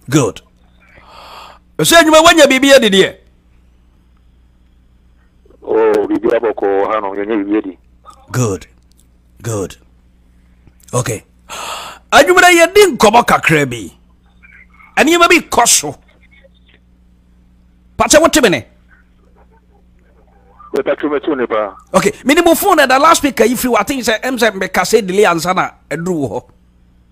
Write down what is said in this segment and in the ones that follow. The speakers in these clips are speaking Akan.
good ɛsɛ adwuma woanya biribi adi deɛ oh, biribi abɔkɔ ha no yɛnyɛ biribi adi good good okay adwumada yɛdi nkɔmmɔ kakra bi nneɛma bi kɔ so pakyɛ wote me ne okay mene mo phone ɛda last week ayi firi waten sɛ ɛm sɛ mekasɛ delay ansa na aduru wɔ hɔ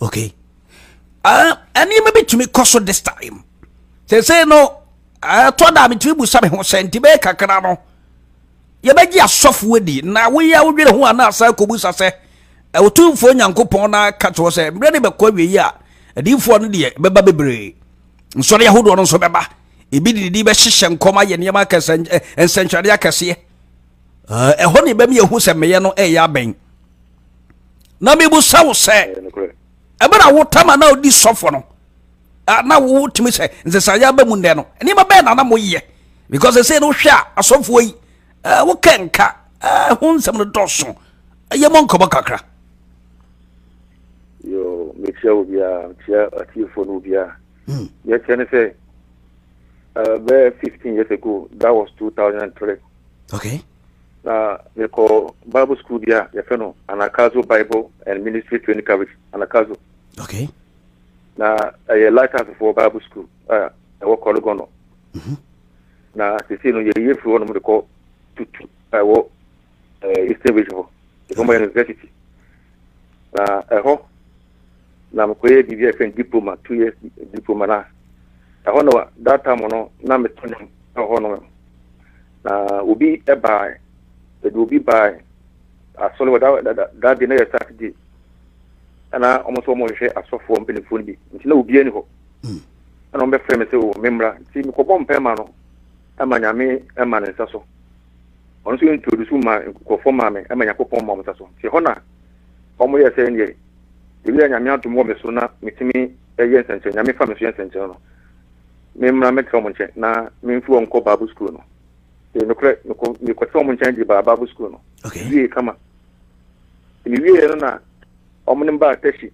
okay ah, ɛnneɛma uh, bi tumi kɔ so this time sese no ɛtɔ eh, da metumi busa me ho sɛ nti bɛyɛ kakra no yɛbɛgye asɔfo adi na woyɛ a wodwene ho anaa saa kɔbusa sɛ ɛwotumfoɔ eh, nyankopɔn no aka kyerɛ sɛ mmerɛ ne bɛkɔ awie yi a adiyifoɔ no deɛ bɛba bebree nsɔre ahodoɔ no nso bɛba ebi de didi bɛhyehyɛ nkɔm ayɛ nneɛma akɛsɛ eh, nsɛnkyerɛnne akɛseɛ ɛhɔ ne bɛmi ehu sɛ meyɛ no ɛyɛ abɛn na mebusa wo sɛ ɛbɛrɛ a wotam a na odi sɔfo no na wotumi sɛ nsesayɛ aba mu nnɛ no nneɛma bɛyɛ na na moyɛ because ɛsɛ no wohwɛ a asɔfoɔ yi wokɛ nka ho nsɛm no dɔso ɛyɛ mɔ nkɔmmɔ kakra yo mekyia wo biara mekyia atiefoɔ no biara hmm. yɛkyɛ ne sɛ bɛyɛ 15 years ago that was 2003 Okay. Na mekɔ Bible school bi a yɛfɛ no Anagkazo Bible and Ministry Training College, Anagkazo. Okay. Na ɛyɛ Lighthouse for Bible School a ɛwɔ Kɔlɔgɔn no. Mhm. Na sisi no yɛyɛ firi hɔ nom de kɔ Tutu a ɛwɔ eh, Eastern Region hɔ. Ɛfɔmɔ yɛ university. Na ɛhɔ na mekɔyɛɛ biribi a yɛfrɛ no diploma, two years diploma no a ɛhɔ no that time no na meto nnwom ɛhɔ no na obi bae ɛde obi bae asɔre wɔ da da da de na yɛ saturday ɛna wɔn nso wɔn hwehwɛ asɔfoɔ mpanimfoɔ no bi nti na obiara ni hɔ ɛna wɔn bɛfrɛ me sɛ o me mmra nti mekɔbɔ mpɛɛ ma no ma Nyame ma ne nsa so ɔno nso introduce ma nkurɔfoɔ ma me ma Nyankopɔn ma wɔn nsa so nti ɛhɔ na wɔn yɛ sɛ neɛ ebi a Nyame adom wɔ me so na metumi yɛ nsɛnkyerɛ Nyame fa me so yɛ nsɛnkyerɛ no me mmra me tra wɔn nkyɛn na me mfi wɔn kɔ Bible school no ee nokorɛ mekɔ mekɔ tra wɔn nkyɛn gye baa Bible school no okay. wie kama me wie no na wɔn ne mbaa taxi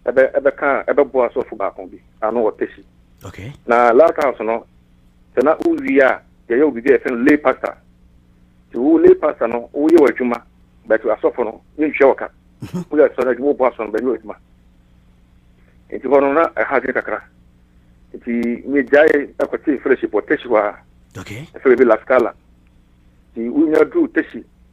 ɛbɛ ɛbɛka ɛbɛboa sɔfo baako bi ano wɔ taxi okay. na last house no Sɛ na wo wie a yɛyɛ wo biribi a yɛfrɛ no lay pastor. Nti wo lay pastor no wo yɛ w'adwuma but asɔfo no yɛ ntua wɔ ka. Wo yɛ asɔre adwuma wo bɔ asɔre no bɛ yɛ w'adwuma. Nti hɔ no na ɛha adwene kakra. Nti me gyae ɛkɔ te fellowship wɔ Teshi hɔ a. Okay. Ɛfɛ bɛbi La Scala. Nti wo nya duru Teshi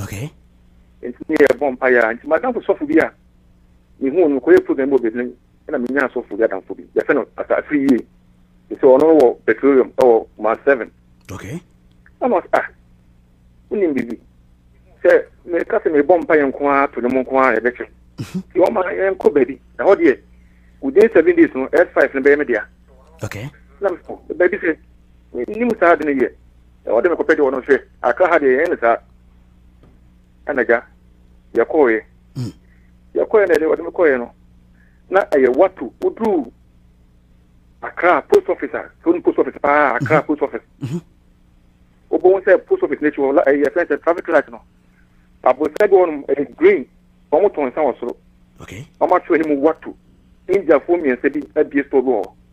Okay. Nti ne yɛbɔ mpa yɛ nti madamfo sɔfo bi a mehu no kɔyɛ program bi wɔ baabi no ɛna menya sɔfo bi adamfo bi yɛfɛ no asa afiri yie te sɛ ɔno wɔ petroleum ɛwɔ ma seven okay ɛna ɔsɛ ah wonim biribi sɛ meka sɛ mebɔ mpa yɛ nko ara to no mu nko ara ɛbɛkyɛ mhm. nti ɔma yɛnkɔ baabi na hɔ deɛ within seven days no s five no bɛyɛ me dea okay na mekɔ baabi sɛ Mennim saa ade no yɛ. Sɛ wɔde me kɔpɛ deɛ wɔnom hwɛ Accra ha deɛ yɛnyɛ no saa. Ɛna gya, yɛkɔɔeɛ. Hmm. Yɛkɔɔeɛ na yɛde wɔde me kɔɔeɛ no, na ɛyɛ wato woduru Accra post office a, sɛ wonim post office paa, mhm. Accra post office. Mhm. Wobɛhu sɛ post office n'akyi hɔ, ɛyɛ fɛn sɛ traffic light no. Aborosan bi wɔnom ɛyɛ green, wɔn tɔn nsa wɔ soro. Wɔn ato anim wato. Indiafoɔ mmiɛnsa bi abie store bi wɔ hɔ.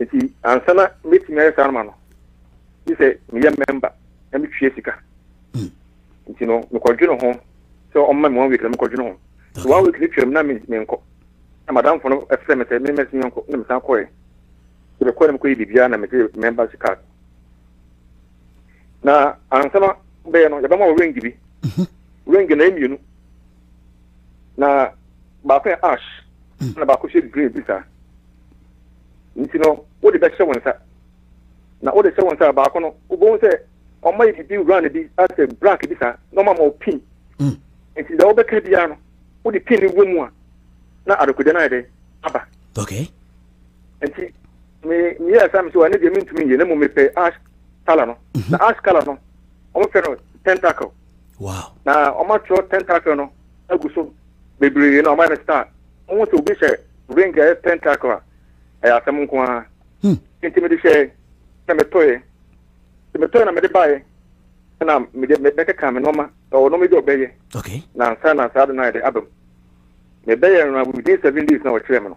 nti ansa na mɛtumi ayɛ saa no ma no gye sɛ meyɛ mɛmba na metwea sika hmm. nti no mekɔdwene ho sɛ ɔma me one week na mekɔdwene ho so one week no twam na menkɔ na madamfo no ɛfrɛ me sɛ memɛsene yɛnkɔ na mesan kɔɛ sɛ mekɔɛ na mekɔyɛ biribiaa na mede mɛmba si card na ansa na bɛyɛ no yɛbɛma wo range bi mhm. range na ɛmmienu na baako yɛ ash hmm. na baako hyɛ green bi saa nti no wode bɛhyɛ wɔn nsa na wode hyɛ wɔn nsa baako no wobɛhu sɛ ɔma yɛ bibi round bi asɛ black bi saa na ɔma ma ɔpin hmm. nti deɛ wobɛka biara no wode pin no wɔ mu a na adekodeɛ no ayɛ dɛ aba okay. nti me meyɛɛ saa mesɛ ɛne deɛ mentumi nyɛ na mmom mepɛ ash color no mhm. na ash color no wɔfrɛ no tentacle wow. na wɔatwerɛ tentacle no agu so bebree na wɔayɛ no star wohu sɛ obi hyɛ ring a ɛyɛ tentacle a ɛyɛ asɛm nko ara hmm. nti mede hyɛɛ na metɔeɛ nti metɔeɛ na mede baeɛ na mede mɛkeka me nɔma ɛwɔ nɔma bi ɔbɛyɛ na nsa na saa de no ayɛ de abam mebɛyɛ no within seven days na wɔkyerɛ me no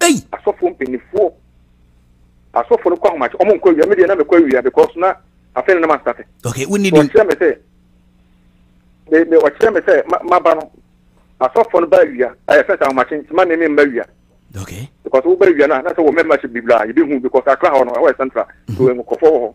Hey! Asɔfo mpanimfoɔ. Asɔfo no kɔ ahomakye. Wɔn nkɔ awia. Mi deɛ na mekɔ awia because na afei na na ma starte. Okay, wo ni di. Ɔkyerɛ mi sɛ, me me ɔkyerɛ mi sɛ ma ma ba no. Asɔfo no ba awia. Ɛyɛ fɛn sɛ ahomakye nti ma ne mi mma awia. Okay. Because wo ba awia na na sɛ wɔ membership bi bla yɛ bi hu because akra hɔ no ɛwɔ yɛ central. So nkɔfɔ wɔ hɔ.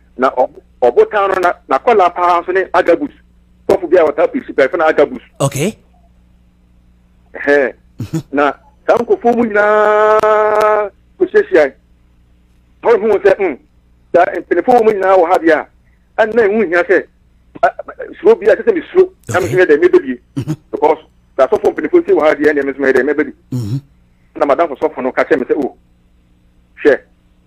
Na ɔbotan no na n'akwadaa paa nso ne Agabus, sɔfo bi a wɔtaa pii so pɛrɛfo na Agabus. Okay. Ɛhɛn. Mhm. Na saa nkurɔfoɔ mu nyinaa kɔhyiahyiae. Paul huu sɛ mm, saa mpanimfoɔ wɔ mu nyinaa wɔ ha deɛ a, ɛnna ɛho hia sɛ suro bi a ɛsɛ sɛ mesuro na meso yɛ dɛ mebɛbie mhm. because sɛ asɔfoɔ mpanimfoɔ si wɔ ha deɛ ɛnneɛ meso yɛ dɛ mɛbɛbi mhm. na madamfo sɔfo no ka kyerɛ me sɛ o oh, hwɛ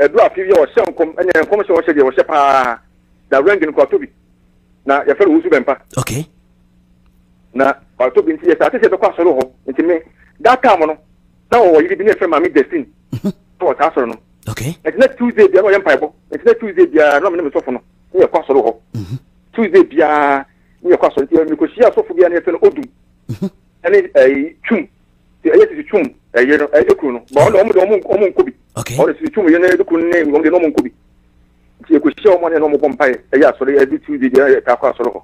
Ɛduru afe bi a ɔhyɛ nkɔm ne nkɔmhyɛ a ɔhyɛ deɛ ɔhyɛ paa na rank no kɔ atɔ bi na yɛfrɛ no Owusu Bɛmpa. Okay. Na ɔtɔ bi nti yɛ saa sɛ bɛkɔ asɔre hɔ nti me that time no na ɔwɔ yiri bi ne yɛfrɛ maame Justin mhm. na wɔ saa asɔre no. Okay. Nti na Tuesday biara na ɔyɛ mpaebɔ nti na Tuesday biara na ɔmo ne me sɔfo no ne yɛkɔ asɔre hɔ. Mhm. Tuesday biara ne yɛkɔ asɔre nti mekɔhyia asɔfo biara ne yɛfrɛ no Odum mhm. ɛne ɛyi Twum sɛ ɛyɛ sisi twum ɛyɛ no ɛyɛ kunu no bɔn ɔmo de ɔmo ɔmo nkɔ bi ɔmo sisi twum yɛ no ɛyɛ kunu ne ɔmo de ɔmo nkɔ bi nti ɛkɔ hyia ɔmo ne ɔmo bɔ mpa yɛ ɛyɛ asɔre ɛbi tu de deɛ ɛyɛ kakɔ asɔre hɔ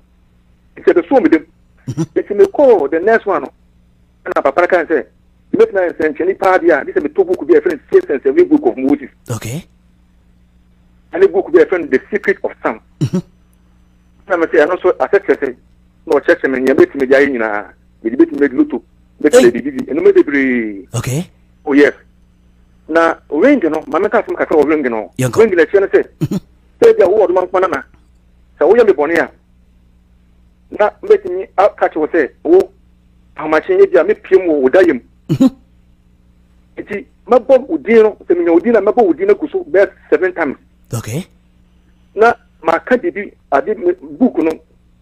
nti ɛbɛ so ɔmo dɛm nti mi kɔ the next one no ɛna papa no kan sɛ mi bɛ tena yɛ nsɛnkyɛnni paa bi a bi sɛ mi to book bi a ɛfɛn sɛ sɛnsɛnni book of moses okay ɛne book bi a ɛfɛn the secret of sound ɛna mi sɛ ɛno nso asɛ kyerɛ sɛ na ɔkyerɛkyerɛ mi nea mi ti mi di ayɛ nyinaa. mede bɛtumi bɛdi loto bɛtumi bɛdi bibi ɛnoma bebree okay oh yes na ring no ma meka asɛm kakra wɔ ring no ring no akyerɛ no sɛ mhm. sɛ bia wowɔ doma nkoma na sɛ woyɛ me bɔne a na mɛtumi aka kyerɛ wo sɛ wo ahomakye yɛ bi a mɛpiam wɔ wo da yam mhm. nti mɛbɔ wo din no sɛ menya wo din na mɛbɔ wo din no agu so bɛɛ seven times okay na maka biribi ade book no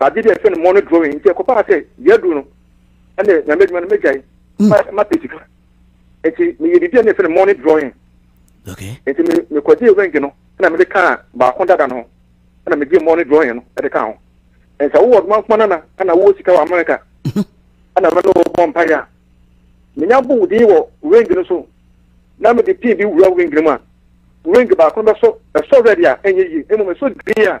Ade bi a yɛfrɛ no money drawing nti ɛkɔbaa sɛ deɛ aduru no ɛne nyame adwuma no mɛgyae ma pɛ sika nti meyɛ biribi a ne yɛfrɛ no money drawing nti mekɔgyee ring no ɛna mede kaa baako dada no ho ɛna megyee money drawing no ɛde kaa ho ɛnti sɛ wowɔ ɔdoma nkoma nana ɛna wowɔ sika wɔ Amerika ɛna mɛne wɔbɔ mpaeɛ a menya bo din wɔ ring no so na mede pin bi wura ring no mu a ring baako no bɛsɔ ɛsɔ red a ɛnyɛ yie mmom ɛsɔ green a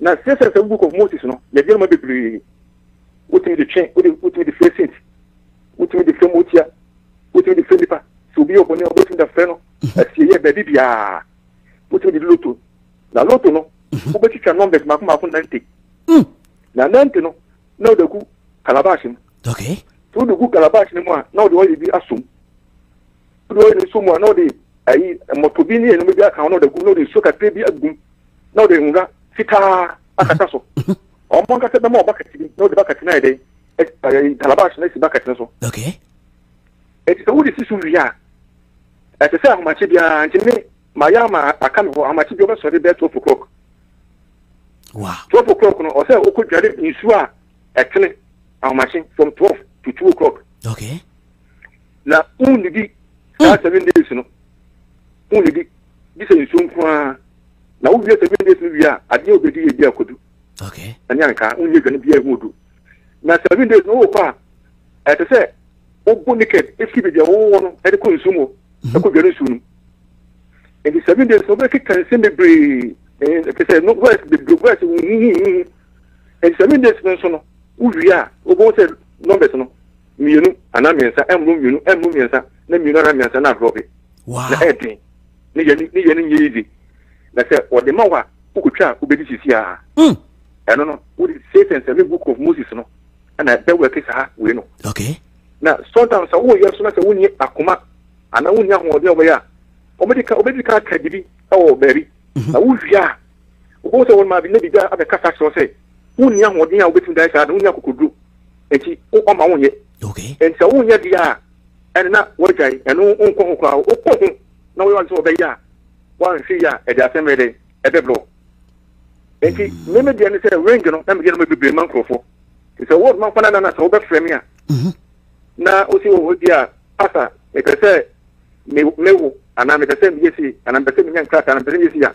Na sɛ sɛ sɛ book of Moses no, yɛgye no ma bebree. Wotumi de twe, wode wotumi de frɛ saint, wotumi de frɛ motia, wotumi de frɛ nipa. Sɛ obi yɛ ɔbɔne a wobɛtumi da frɛ no mhm. asieyɛ baabi biara. Wotumi de loto. Na loto no, mhm. wobɛtwitwa numbers mako mako nante. Mm. Na nante no, na wode agu calabash mu. Okay. Sɛ wode gu calabash no mu a, na wode ɔyɛ bi asom. Wode ɔyɛ no nso mu a, na wode ayi mmɔtɔ bi ne ɛnoma bi aka ho na wode agu, na wode nsuo kakra bi agum. na ɔde nwura fitaa akata so ɔmo ankasa bɛma ɔbakɛse bi na ɔde bakɛse no ayɛ dɛ ɛɛ calabash na esi bakɛse no so okay eti sɛ wode si so wie a ɛsɛ sɛ ahomakye biara nti me mayɛ ama aka me hɔ ahomakye bi ɔbɛsɔre bɛɛ twelve o'clock wow twelve o'clock no ɔsɛ ɔkɔ dware nsuo a ɛtene ahomakye from twelve to two o'clock okay na wonnidi saa hmm. seven days no wonnidi gye sɛ nsuo nko ara na wowie seven days no wie a adeɛ a wobɛdi yɛ bi akodu ɛne anka wonyɛ adwane biaa ɛho odu na seven days no wokɔ a ɛte sɛ wobɔ naked ɛfiri baabi a wowɔ no ɛde kɔ nsuo mu mhm. ɛkɔ dwane nsuo no nti seven days no wobɛkeka nsɛm bebree ɛte sɛ no wɛs bebree wɛs huhuhuhu nti seven days no nso no wowie a wobɛhu sɛ numbers no Mmienu anaa mmiɛnsa ɛmmoro mmienu ɛmmoro mmiɛnsa na mmienu anaa mmiɛnsa na ahorɔ bi wow. na ɛyɛ den ne yɛ ne yɛ no nyɛ yize na sɛ wɔde ma wo a wokɔtwa a wobɛdi sisi a mm. ɛno no wode sei sɛ nsɛme book of moses no ɛna bɛwɛke saa wei no okay. na sometimes sɛ woyɛ so na sɛ wonni akoma anaa wonni ahoɔden a wɔbɛyɛ a wɔbɛdi ka wɔbɛdi ka aka biribi ɛwɔ baabi mm-hmm. na wowie a wobɛhu sɛ wɔn maa bi na biribi abɛkasa kyerɛ sɛ wonni ahoɔden a wobɛtumi dan saa no wonni akokoduro nti ɔma wonyɛ nti sɛ wonyɛ deɛ a ɛne na woagyae ɛno wonkɔ ho koraa wokɔ ho na woyɛ wade sɛ wɔbɛyɛ a woanhwɛ yi a ɛde asɛm bɛyɛ dɛn ɛbɛbrɛ nti meme deɛ ne sɛ range no na meyɛ no bebree ma nkurɔfoɔ nti sɛ wode mamfa no anana sɛ wobɛfrɛ me a mhm. na wosi wɔ hɔ bi a pasa mepɛ sɛ mewo anaa mepɛ sɛ meyɛ sei anaa mepɛ sɛ menya nkrataa na mepɛ sɛ meyɛ sei a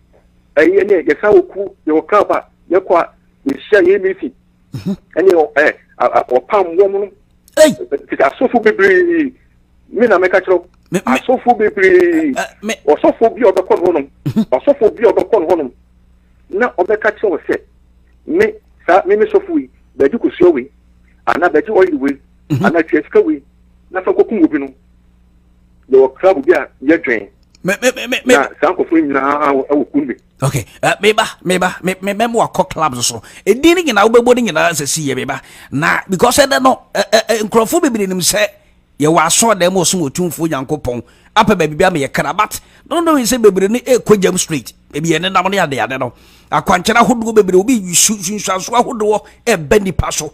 ɛyɛ ne yɛsan wɔ kuo yɛwɔ camp a yɛkɔ a yɛhyia yɛn misi mhm. ɛne ɛ ɔpam wɔm no tete asɔfo bebree me na mɛka kyerɛw asɔfo bebree ɔsɔfo bi a ɔbɛkɔ no hɔnom mhm. ɔsɔfo bi a ɔbɛkɔ no hɔnom na ɔbɛka kyerɛw sɛ me saa me me sɔfo yi bɛgye kosua wei anaa bɛgye ɔyere wei mhm. anaa tua sika wei na fa kɔkum obi no yɛwɔ club bi a yɛdwen na saa nkɔfoɔ nyinaa wɔ kun me ok eh, meba meba mebɛma wakɔ clubs so ɛdin no nyinaa wobɛbɔ no nyinaa sɛ si yɛ meba na because ɛdɛ no nkurɔfoɔ bebree nim sɛ yɛwɔ asɔɔ dɛm ɔsom ɔtumfoɔ nyankopɔn apɛ baabi bi ama yɛ kra but no no sɛ bebree no ɛkɔ jam street ebi yɛ nenam no yɛ adeade no akwankyerɛ ahodoɔ bebree obi sunsuanso ahodoɔ ɛbɛ nipa so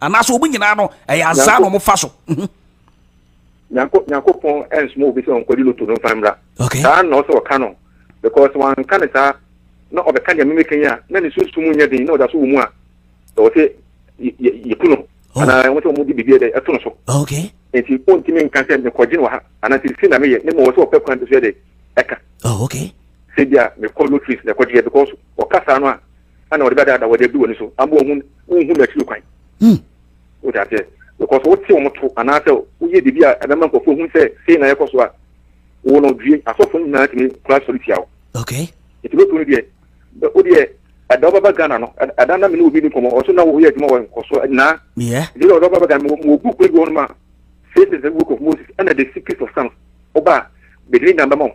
anaasɛ wɔn nyinaa no ɛyɛ azaa na wɔfa so. Mhm. nyankopɔn ɛnsoma obi sɛ ɔnkɔgye loto no mfa mmra saa na ɔsɛ ɔka no because wanka ne saa na ɔbɛka deɛ memeka yi a na ne sunsum nyɛ den na ɔda so wɔ mu a ɛwɔ sɛ yɛku no oh. anaa ɛwɔ sɛ ɔmode biribi dɛ ɛto no so nti ɔntumi nka sɛ mekɔgye no wɔ ha anaa sɛ si na meyɛ ne ma ɔwɔ sɛ ɔpɛ kwan bi so yɛ dɛ ɛka oh, sɛ bia mekɔ lotris na ɛkɔgyeɛ because ɔka saa no a ana wɔde bɛdaadaa wɔde abu w'ani so ama wɔhu wonhu n'akyiri kwan wote aseɛ because wote wɔn to anaasɛ woyɛ biribi a ɛbɛma nkurɔfoɔ hu sɛ sei na ɛkɔ so a wo no due asɔfo no nyinaa tumi kora sɔre tia wo okay nti bɛtu no deɛ wodeɛ ɛda wobɛba ghana no ɛda na mene obi ne nkɔmmɔ ɔso na woyɛ adwuma wɔ nkɔso nyinaa nti ɔda wobɛba ghana mewɔ book bi hɔ no ma faces the book of moses ɛna the secret of sons woba a bɛdini nyame bɛma wo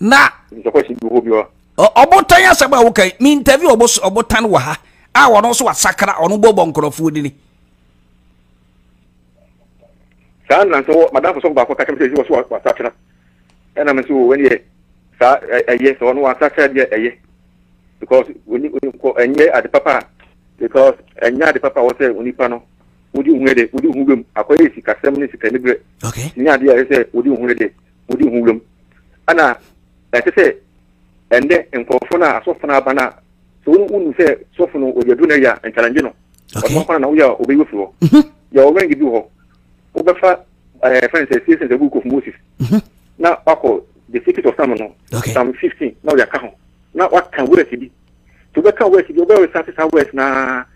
na ɔbotan asɛm a woka me interview ɔbotan wɔ ha a ɔno nso wasakra ɔno bɔbɔ nkurɔfoɔ dini saa na nso madamfo sɔfo baako ka kyɛm sɛ ɛsi wɔ so wasakyera ɛna me nso wɔ wɛni yɛ saa ɛyɛ sɛ ɔno wasakyera deɛ ɛyɛ because oni oni kɔ ɛnyɛ ade papa because ɛnyɛ ade papa wɔ sɛ onipa no wodi ohun yɛ de wodi ohun bɛm akɔyɛ sikasɛm ne sika ne brɛ okay ne adeɛ yɛ sɛ wodi ohun yɛ de wodi ho wuram. Ana ɛte sɛ ɛnnɛ nkurɔfo no a asɔfo no aba no a sɛ wɔn wonu sɛ sɔfo no ɔde aduru no yɛ a nkyalangye no ɔno kwan na woyɛ a ɔbɛyi ofiri hɔ mhm. yɛ ɔwɛnge bi wɔ hɔ wobɛfa ɛɛ eh, fɛn sɛ season sɛ book of moses mhm. na wakɔ the secret of sam no sam fifteen na ɔde aka ho na waka wɛrɛsi bi Nti wobɛka wɛs bi a, wobɛresate saa wɛs no ara.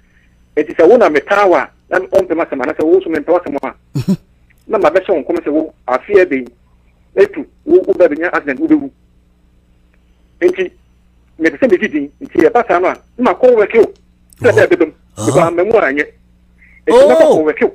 Nti sɛ wo na metaa wo a, na wompɛ m'asɛm, anaasɛ wo nso mempɛ w'asɛm a, na mabɛhyɛ wo nkɔm sɛ wo afe abien atu, wo wo ba bɛnya accident, wobɛwu. Nti mepɛ sɛ megye din, nti ɛba saa no a, na makɔ wɛke o, sɛ dɛ ɛbɛba mu, mekɔ ama mu a ɛnyɛ. Nti mɛkɔ kɔ wɛke o.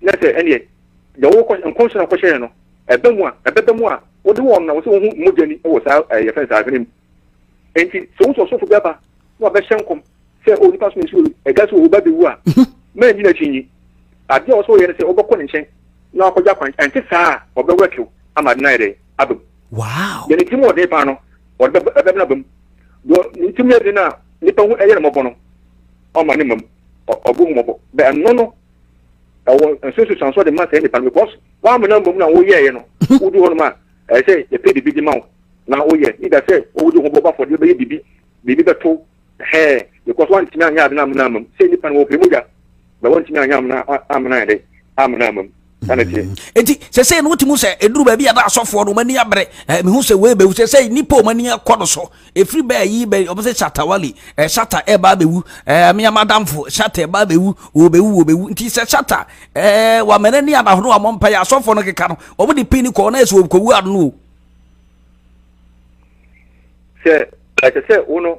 na sɛ ɛneɛ deɛ wokɔ nkɔmhyɛ na wokɔhyɛ yɛn no ɛbɛ mu a ɛbɛbɛ mu a wode wɔn na wɔsɛ wɔhu mogya ni wɔ saa ɛɛ yɛfɛn saa adwene mu nti sɛ wosɔ sɔfo bi aba na wabɛhyɛ nkɔm sɛ o nipa so nsuo ɛga so ɔba bɛwu a mɛn nyina akyi nyi adeɛ a wɔsɛ wɔyɛ no sɛ wobɛkɔ ne nkyɛn na wakɔgya kwan ɛnte saa a ɔbɛwura kew ama de no ayɛ dɛ abam wow yɛn ti mu ɔden paa no ɔde ɛbɛbɛn abam deɛ ne ti mu yɛ den a nipa ho ɛyɛ no mmɔbɔ no ɔma ne mmam Ɔbɔhumɔbɔ bɛ ɛno no ɛwɔ nsusuansoɔ de ma saa nipa no because w'amena mmom na woyɛɛ no wodi hɔ nom a ɛyɛ sɛ yɛpɛ biribi de ma wo na woyɛ ida sɛ wodi ho bɔbɔ afɔdeɛ bɛyɛ biribi biribi bɛto hɛɛ because wantumi anyɛ ade no amena mmom sɛ nipa no wɔpɛ mogya bɛ wantumi anyɛ amena amena ɛdɛ amena mmom ɛna tie. eti sɛsɛ no wotumi sɛ eduru baabi a na asɔfoɔ no wɔn ani abere ɛɛ mihu sɛ wei bɛwu sɛsɛ nipa wɔn ani kɔ no so efiri bɛɛ yi bɛ wɔn sɛ shatawali ɛɛ shata ɛɛba abɛwu ɛɛ mmea madamfo shata ɛɛba abɛwu wɔbɛwu wɔbɛwu nti sɛ shata ɛɛ wɔamɛnɛ ni anahono wɔn mpa yɛ asɔfoɔ no keka no wɔn de pin kɔɔ na ɛsɛ wɔkɔwu ano. sɛ ɛsɛ sɛ wo no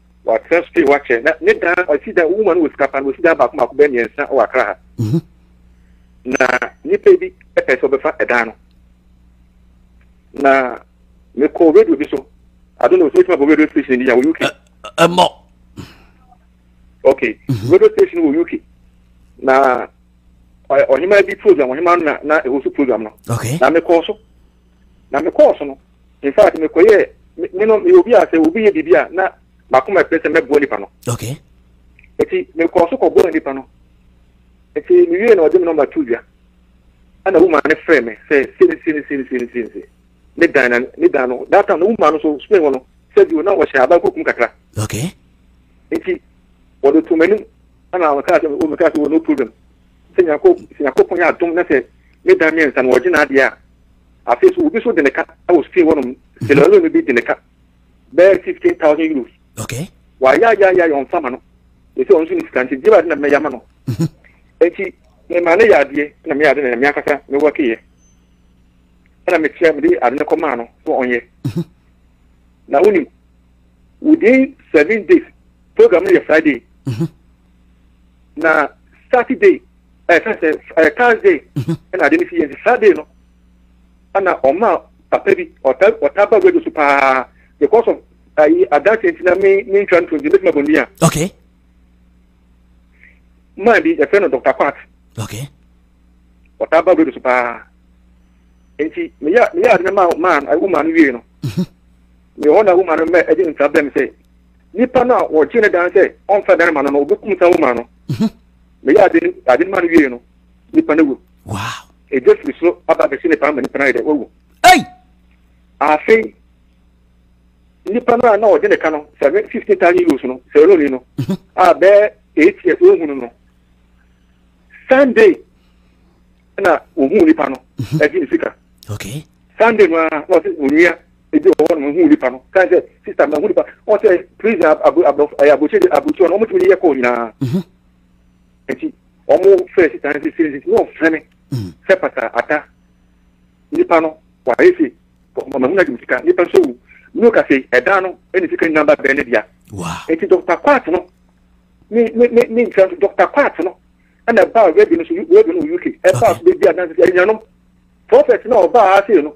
Watena Spain wakyɛ na ne dan ɔsi dan wohu ma no wɔ sika pa no wɔsi dan baako baako bɛyɛ mmiɛnsa wɔ Akra ha mhm. na nipa bi pɛ sɛ ɔbɛfa ɛdan no na mekɔ radio bi so ado na ɔsɛ ɛtuma bɔ radio station bi a wɔ UK ɛmɔ ok mhm. radio station wɔ UK na ɔhema bi program ɔhema no na na ɛwɔ so program no na mekɔ so Na me kɔɔ so no, in fact me kɔ yɛ, me no me obi a sɛ obi yɛ biribi a na makoma pɛ sɛ mɛboa nipa no. Okay. Eti me kɔɔ so kɔ boa nipa no. Eti me wie na ɔde me nɔmba tu dwa. Ɛna wuma ne frɛ me sɛ sini sini sini sini sini sini. Ne dan na ne dan no that time no wuma no so Spain hɔ no sɛ bi o na wɔhyɛ aban kukum kakra. Okay. Eti wɔde to m'anim ɛna wɔkaa sɛ o mekaa sɛ o no problem. Sɛ nyako sɛ nyako pɔn yɛ adom na sɛ Ne da mmiɛnsa no ɔgye n'adeɛ a, afei nso obi nso gye ne ka wɔ Spain hɔnom, mhm. Sierra Leone bi gye ne ka bɛyɛ fifteen thousand euros. Okay. Wayɛ ayɛ ayɛ ayɛ ɔnfa ma no, esi ɔno nso ne sika nti gyeba de na mɛyɛ ama no. Mhm. Eti mɛma ne yɛ adeɛ na meyɛ ade na mea kasa me wɔ keyɛ. Ɛna mekyia mede ade no kɔ maa no so ɔnyɛ. Mhm. Na wonim within seven days program no yɛ Friday. Na Saturday ɛka sɛ ɛɛ thursday mhm. ɛna ade no si yɛ nti saturday no ɛna ɔma papa bi ɔta ɔta ba radio so paa because of ayi adansi nti na me me ntwa nto nti ne tuma bɔ nua. okay. maa bi yɛfrɛ no dr kwat. okay. ɔta ba radio so paa nti meyɛ meyɛ ade no maa maa wo maa no wie no. Mhm. meyɛ hɔ na wo maa no mɛ ɛde nsa bɛm sɛ nipa no a wɔgye ne dan sɛ ɔnfa dan ma no no obekum sa wo maa no. Mhm. meyɛ ade no ade no ma no wiei no nipa no wu wow ɛgya firi soro aba bɛsi nipa no ma nipa no ayɛ dɛ wawu ei afei nipa no a na ɔde ne ka no seven fifteen thousand euros no sɛrɛni no mhm. a bɛɛ eight years ohunu no sunday na ohun nipa no ɛgye mhm. ne sika okay sunday no a na ɔsɛ onua. ebi wɔ hɔ no mehu nipa no kan sɛ sista mehu nipa wɔn sɛ prison aborɔfo ɛyɛ aburokyire aburokyire no wɔn tumi de yɛ kɔɔ nyinaa nti wɔn fɛ sista no sisi nti wɔn fɛ me sɛ pata ata nipa no wɔayɛ se mahu na de sika nipa nso wu ne ka se ɛdan no ɛne sika nyinaa ba bɛn ne dea nti dɔkta kwat no ne ne ne ne nkyɛn so dɔkta kwat no ɛna ɛbaa rɛbi no so rɛbi no wɔ uk ɛbaa so bɛbi adansi ɛnyanom prɔfɛt na ɔbaa ase no.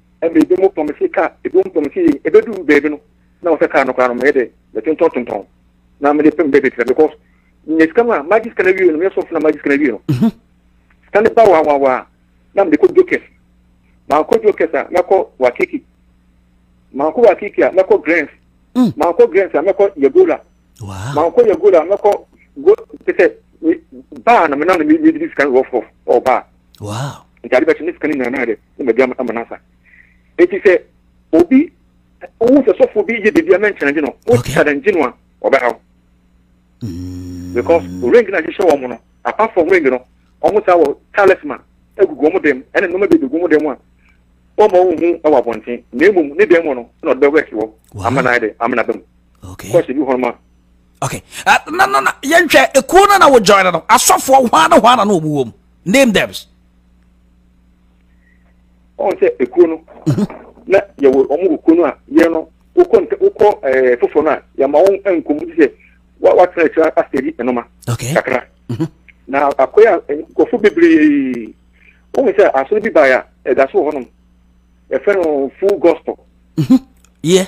Mbrɛ binom pam si ka binom pam si yie, ebedur beebi no na wɔsɛ kaa no koraa no meyɛ dɛ metontɔn tontɔn na mede pem dɛ mebetsia because minya sika no a magye sika no ewie no meyɛ sɔfo na magye sika no ewie no mhm. sika no ba wawawa a na mede kɔ jokers makɔ jokers a mɛkɔ wakiki makɔ wakiki a mɛkɔ grants mm. makɔ grants a mɛkɔ yagola makɔ yagola a mɛkɔ go te sɛ baa na mena na medidi sika no rɔfrɔf ɔbaa nti ade bɛkye ne sika no nyinaa na yɛ dɛ na magya no ama no asa. Enti sɛ obi wohu sɛ sɔfoɔ bi yɛ biribi a na nkyɛn gye no, wo challenge no a, ɔbɛha wo. Mm. Because ring na hyehyɛ wɔn no, apart from ring no, wɔn saa wɔ talisman egugu wɔn dan mu, ɛna nneɛma bi egugu wɔn dan mu a wɔn ma wɔn hu ɛwɔ abɔnten, na emu ne dan mu no na ɔde bɛ work wɔ ama na ayɛ dɛ ama na bɛ mu. Okay. Kɔsi bi hɔn ma. Okay. Uh, na na na yɛn hwɛ ekuo na na wɔ join no asɔfoɔ hwan na hwan na na wɔn wɔ mu name them. ɔn sɛ ekuo no mhm. na yɛwɔ wɔn wɔ kuo no a yɛn no wokɔ ntɛ wokɔ ɛɛ foforɔ no a yɛma wɔn nkɔm ti sɛ wa watena akyire asɛdi ɛnoma kakra mhm. na akɔyɛ a nkɔfo bebree wɔn sɛ asɔre bi baeɛ a ɛda so wɔ hɔnom yɛfrɛ no full gospel. Mhm. yɛ.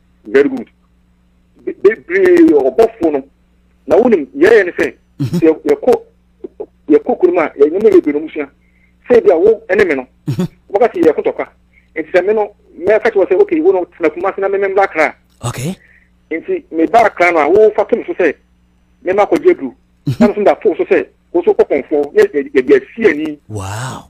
Very good. Bebree yɛ ɔbɔfoɔ no. Na wonim yɛyɛ ne sɛ mhm. sɛ yɛkɔ yɛkɔ kurom a yɛnyɛma bebree no mu sua. Sɛ ebi a wo ne me no mhm. wɔka sɛ yɛyɛ kotɔkwa. Nti sɛ me no mɛka kyerɛ sɛ okay wo no tena kuma se na meme mbra kra. Okay. Nti mebaa kra no a wofa to me so sɛ mema akɔgye aduru. Mhm. Na me so da to so sɛ wo so kɔkɔmfoɔ yɛ yɛde asie ani. Wow.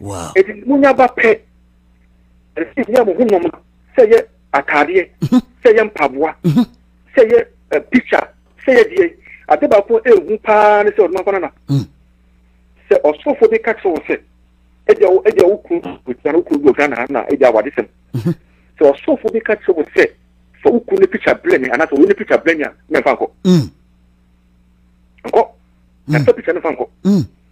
Wow. Eti mo nya ba pɛ. Ɛsɛ nya mo ho nɔma sɛ yɛ ataadeɛ mhm. sɛ yɛ mpaboa mhm. sɛ yɛ eh, picture sɛ yɛ deɛ ade baako ehu paa ne sɛ ɔdoma kwana na mhm. sɛ ɔsofo bi ka kyerɛ wɔ sɛ ɛdi awo ɛdi awo kuru ogyina no kuru bi ɔgana ha na ɛdi awo ade sɛm sɛ ɔsofo bi ka kyerɛ wɔ sɛ fa okuru ne picture brɛ mi anaasɛ wɔn ne picture brɛ mi a mɛ nfa nkɔ nkɔ na fa picture ne fa nkɔ.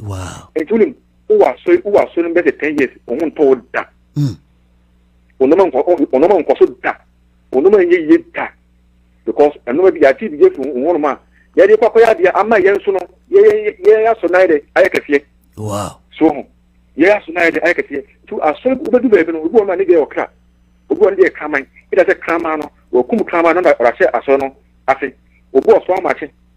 Wow. Nti wonim wowɔ asɔre wowɔ asɔre no bɛ sɛ ten years wɔn ho ntɔ wo da. Hmm. Onoma nkɔ onoma nkɔ so da onoma nyɛ yie da because ɛnoma bi yɛate bi yɛfiri wɔn hɔnom a yɛde kɔ akɔyɛ adeɛ ama yɛn nso no yɛyɛ yɛyɛ asɔ nan dɛ ayɛ kɛseɛ. Wow. So ho yɛyɛ asɔ nan dɛ ayɛ kɛseɛ nti asɔre wobɛdu baabi no obi wɔn a ne deɛ wɔ kra obi wɔn ne deɛ kraman ɛda sɛ kraman no wɔkum kraman no na ɔrahyɛ asɔre no ase obi wɔ so amakye.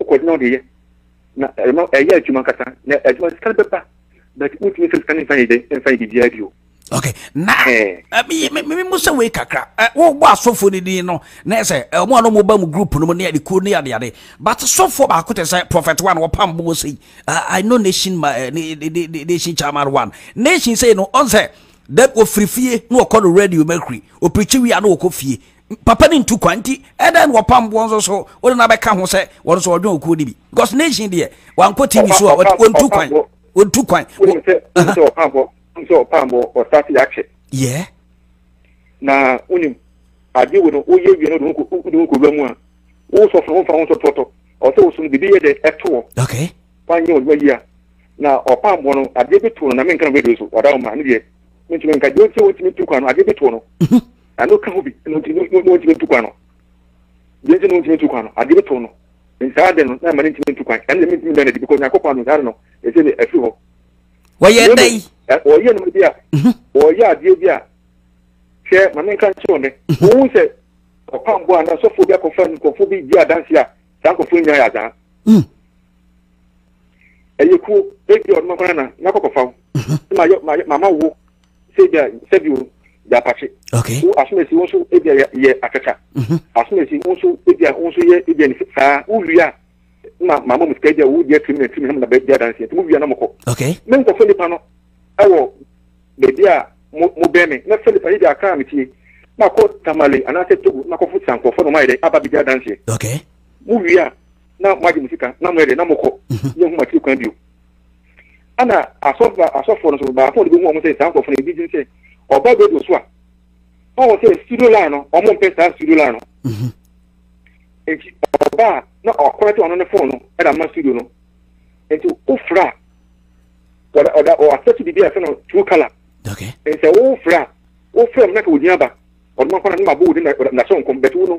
Wokɔ do na wode yɛ na ɛma ɛyɛ adwuma ankasa na adwuma no sika no bɛba but wotumi sɛ sika no mfa yɛ dɛ mfa yɛ biribiara bio. Okay na me mo sɛ wei kakra wobɔ asɔfoɔ no din no na ɛsɛ ɔmo a no mo ba mu group no mu ne adekuo ne adeade but sɔfoɔ baako te sɛ prophet one wɔpam bɔ sɛ I know nation ma eh, nation chairman one nation sɛ no ɔnsɛ then ofiri fie na ɔkɔ no radio mercury opirikyi wia na ɔkɔ fie papa no ntu kwan nti ɛdɛn na wɔpam boɔ nso so wode no abɛka ho sɛ wɔn nso wɔdwen okuo no bi because nation deɛ wankɔ tv so a wɔntu kwan wɔntu kwan yɛ na wonim ade wo no woyɛ wie no de wo kɔwura mu a wo sɔfo womfa wo nsɔtɔtɔ ɔsɛ wo so no biribi yɛ dɛ ɛtoɔ wanyɛ ɔdwuma yi a na ɔpam boɔ no adeɛ bi to no na menka no radio so ɔda wo ma ne deɛ mentumi nka deɛ ɔnti ɔntumi ntu kwan no adeɛ bi to no ɛno ka ho bi na ɔntumi ntu kwan no deɛ nti na ɔntumi ntu kwan no adeɛ bi to no ntaa de no na ɛma no ntumi ntu kwan ɛno na mentumi bɛn adi because nyankopɔn ano ntaa no ɛsɛ ne afiri hɔ wɔyɛ dɛ yi wɔyɛ no bi a mhm. wɔyɛ adeɛ bi a hwɛ ma menka nkyerɛ ɔne mhm. wohu sɛ ɔpambo a na sɔfoɔ bi akɔfa nkurɔfoɔ bi di adanse a saa nkurɔfoɔ nyinaa yɛ adaa mhm. ɛyɛ kuo ebi ɔno mɛkɔ nana mɛkɔ kɔfa wo sɛ ma yɛ ma yɛ mama wo sɛ ebi a sɛbi o yɛ apakye wo asomasi wo nso ebi a yɛ yɛ akata mhm. asomasi wo nso ebi a wo nso yɛ ebi a ne saa wo wia na mama mu sika ebi a wo deɛ tiri mi na tiri mi na mo na bɛ di adansi yɛ nti mo wia na mo kɔ me nkɔfo nipa no ɛwɔ beebi a mo mo bɛn mi na fɛ nipa ebi a kaa mi tie na kɔ tamale anaasɛ togo na kɔ fo sankɔfo na mo ayɛ dɛ aba bi di adansi yɛ mo wia. na mo agye mo sika na mo yɛ de na mo kɔ mhm. yɛ nhoma tiri kwan bio ɛna asɔfo asɔfo no so baako de bi hu wɔn sɛ saa nkorɔfo no ebi gyina sɛ ɔba radio so a ɔwɔ sɛ studio line no wɔn mpɛ saa studio line no mhm. nti ɔba a na ɔkɔrɔ te ɔno ne fon no ɛna ma studio no nti ofura ɔda ɔda ɔasɛte bibi a ɛfɛ no true colour nsɛ wofura wofura mu na ka ogyina ba ɔdoma kɔnɔ ne ma bo wo de na so nkɔm bɛtu no.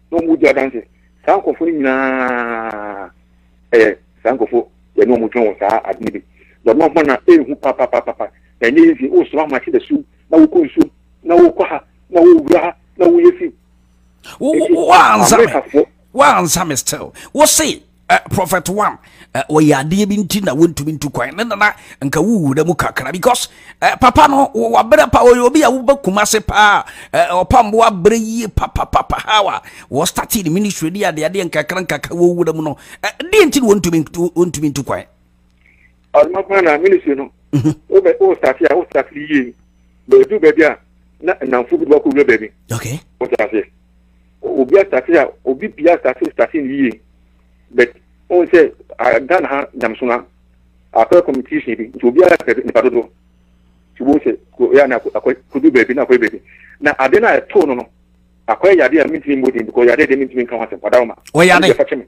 na wɔn di adanse saa nkurɔfoɔ no nyinaa ɛyɛ saa nkurɔfoɔ yɛne wɔn twɛn wɔ saa ade no bi na ɔno ɔma na ɛhu papapapapa na ɛnyɛ yɛ nsi wosoma ma kye da su na wokɔ nsuo na wokɔ ha na wowura ha na woyɛ fi woansa me still wose Uh, prophet one uh, wɔyɛ adeɛ bi nti na wontumi ntu kwan ne nana nka wowura mu kakra because uh, papa no wabrɛ pa ɔyɛ obi a wobɛ kuma se paa uh, ɔpambo abrɛ yie papapapa how a wɔstate ne ministry ne adeadeɛ nkakra nkakra wɔwura mu no uh, deɛ nti na wɔntumi ntu kwan ɔno paa na ministry no wobɛ wo starte a wo starte no yie bɛdu baabi a na nnamfo bi de wakɔ wura baabi okay wote aseɛ obi starte a obi bia starte starte no yie but wohu sɛ ghana ha nyamso no akɔyɛ competition bi nti obiara pɛ nipa dodoɔ nti wohu sɛ yɛ na akɔdu baabi na akɔyɛ baabi na ade no a ɛtoo no no akɔyɛ yadeɛ a mentumi mmɔdin because yadeɛ deɛ mentumi nka ho asɛm ɔda wo ma ɔyade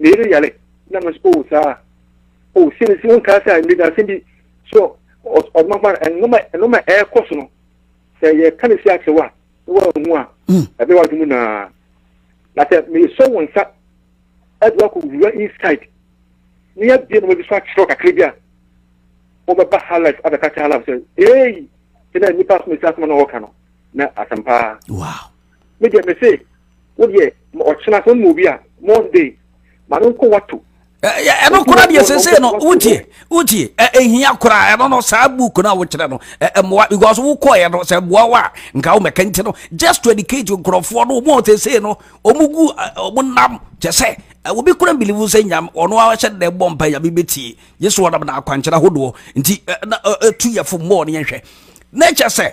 me yere yare na me oh saa oh sɛ nsi wɔn kaa sɛ mmiri asɛm bi so ɔdoma fa nnoma nnoma ɛɛkɔ so no sɛ yɛ ka ne si akyerɛ wa na wɔn ehu a hmm. ɛbɛ wa dum naa na sɛ me sɔ wɔn nsa ɛde wakɔ wura inside ne yɛ bie na wɔn bi so akyerɛ kakra bi a wɔn bɛ ba ha life abɛka kyerɛ ha life sɛ ee sɛ na nipa asoma si asoma na wɔka no na asɛm paa. me deɛ me se wo deɛ ɔkyena sɛ mu obi a monday ma no nkɔ wato ɛno kora deɛ sesei no wotie wotie ɛhia koraa ɛno no saa book no a wokyerɛ no ɛmmoa because wokɔeɛ no sɛ mmoa wo a nka womɛka nti no just to educate nkurɔfoɔ no ɔmu a sesei no ɔmu gu ɔmu nam kyɛ sɛ obi kora mbilivu sɛ nyam ɔno ahyɛ dɛ bɔ mpa nyame bɛtie gye so ɔnam na akwankyerɛ ahodoɔ nti ɛtu yɛfo mmɔɔ no yɛhwɛ na kyɛ sɛ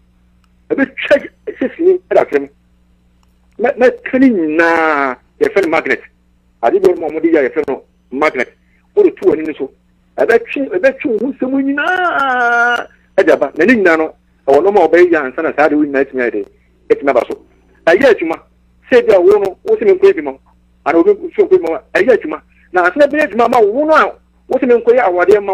ɛbɛtwa sesini da fam na na ka ne nyinaa yɛfrɛ no magnet ade bi wɔn a wɔde yɛ yɛfrɛ no magnet wɔde to wɔn ani so ɛbɛtwe ɛbɛtwe wɔn ho nsɛm nyinaa ɛde aba na ne nyinaa no ɛwɔ nneɛma a wɔbɛyɛ ansa na saa de wɔn nyinaa atumi ayɛ de atumi aba so ɛyɛ adwuma sɛ ebi a wɔn no wɔn sɛ menkɔ ebi ma ana obi nso nkɔ ebi ma ɛyɛ adwuma na asena bɛyɛ adwuma ma wɔn a wɔn sɛ menkɔ yɛ awadeɛ ma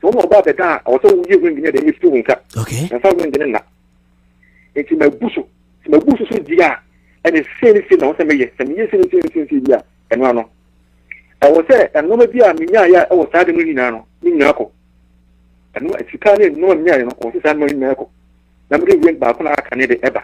So wɔn a wɔba abɛda a ɔwɔ sɛ woyi ring no deɛ mɛfiri wo nsa na mfa ring no nna nti mabu so sɛ mabu so so di a ɛne sei ne sei na ɛwɔ sɛ meyɛ sɛ meyɛ sei ne sei ne sei ne sei bi a ɛno ano ɛwɔ sɛ nnoɔma bi a menyaeɛ a ɛwɔ saa de no nyinaa no ne nyinaa kɔ ɛno sika ne nnoɔma menyaeɛ no ɔwɔ sɛ saa nnoɔma nyinaa kɔ na mede ring baako na aka ne de ɛba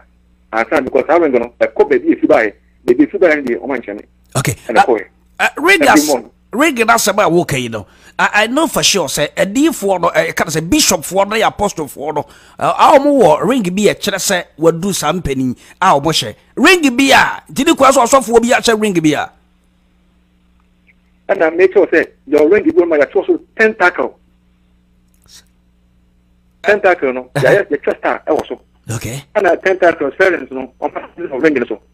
ansa because saa ring no ɛkɔ baabi ɛfi baeɛ baabi ɛfi baeɛ no deɛ ɔma nkyɛne okay. ɛna kɔɛ uh, read us. Ring no asɛm a woka yi no, I, I know for sure sɛ adiyifoɔ no, ɛka no sɛ bishopfoɔ no yɛ apostlefoɔ no, a wɔn wɔ ring bi a ɛkyerɛ sɛ wɔadu saa mpanin a wɔn hyɛ ring bi a, nti ne kura sɛ ɔsɔfoɔ bi ahyɛ ring bi a. Ɛna make sure sɛ your ring bi ma yɛtwerɛ so tentacle. Tentacle no, yɛayɛ yɛtwerɛ star ɛwɔ so. Okay. Ɛna tentacle spellings no, wɔn pa ring no so.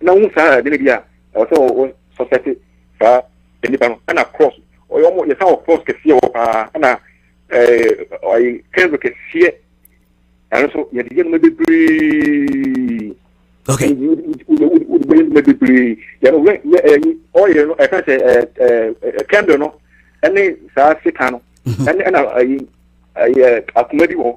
na wohu saa ɛde no bi a ɛwɔ sɛ wɔ sɔsɛte saa nnipa no ɛna cross ɔyɛ ɔmo yɛ saa wɔ cross kɛseɛ wɔ paa ɛna ɔyɛ kɛnso kɛseɛ ɛno nso yɛde yɛ noma bebree okay wode bɛyɛ noma bebree yɛno wɛ yɛ ɛyi ɔyɛ no ɛka sɛ ɛɛ kɛndo no ɛne saa sekan no ɛne ɛna ɛyi ɛyɛ akoma bi wɔ hɔ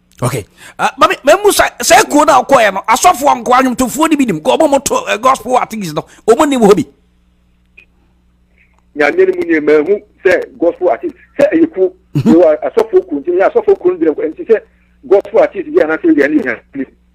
okay uh, mami mɛmu sɛ sɛ kuo na ɔkɔɛ no asɔfoɔ nkoa nnwomtofoɔ ni bi nim kɔ ɔmo mo to eh, gospel artist no ɔmo nim hɔ bi. nyame ni mu ni ɛmɛ ehu sɛ gospel artist sɛ ɛyɛ kuo ɛwɔ asɔfoɔ kuo nti ɛyɛ asɔfoɔ kuo no gyina nti sɛ gospel artist bi anaasɛ ɛyɛ ɛni yɛn.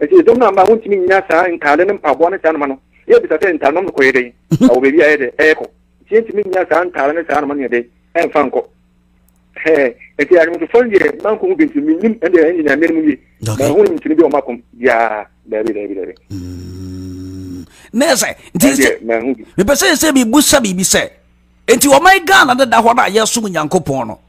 Enti dɔm no amma a wontumi nnya saa ntaade ne mpaboa ne saa nneɛma no. Yebisa sɛ, Ntadenom no kɔyɛ dɛn? Ɛwɔ baabi a ɛyɛ dɛ ɛrekɔ, enti yentumi nnya saa ntaade ne saa nneɛma no yɛ dɛ ɛmfa nkɔ. Hɛɛ, enti anwemtofo no deɛ manko ho bi nti minnim, ɛnde ɛnyɛ nea menim yie. Manhu ne ntini bi a wɔakom biara. Daabi, daabi, daabi. Mm. Na ɛsɛ, nti sɛ, mepɛ sɛ sɛ mebusa biribi sɛ, enti wɔman Ghana deda hɔ no a yɛsom Nyankopɔn no,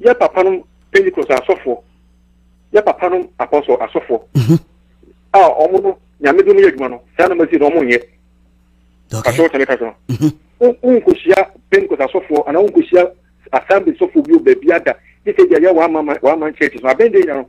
Yɛ papanom Pentecost asɔfoɔ, yɛ papanom apɔsɔ asɔfoɔ mhm. a wɔn no nyame de mu yɛ adwuma no saa na masi na wɔn nyɛ. Asɔrɔ tɛmɛ ka sɔn. Nkosia Pentecost asɔfoɔ anaa nkosia assembly sɔfoɔ bi o baabi ada ne sɛ deɛ yɛ wɔn aman churches no abɛn de yɛ no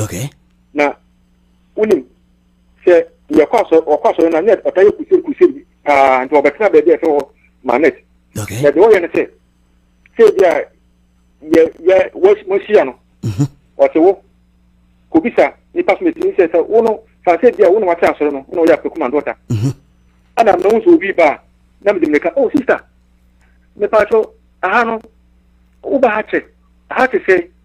okay na wonim sɛ yɛkɔ asɔre ɔkɔ asɔre na net ɔta yɛ kusiri kusiri paa nti ɔbɛtena baabi a ɛfɛ hɔ ma net okay na deɛ ɔyɛ no sɛ sɛ bi a yɛ yɛ wɔahyia no mhm. ɔte wo kobisa nipa so mɛtumi sɛ sɛ wo no fa sɛ bi a wo na wate asɔre no wo na ɔyɛ afɛ kuma dɔta mhm. ɛna mɛ wo nso obi ba na mede mmirika oh sister mepa kyɛw aha no woba ha kyɛ aha te sɛ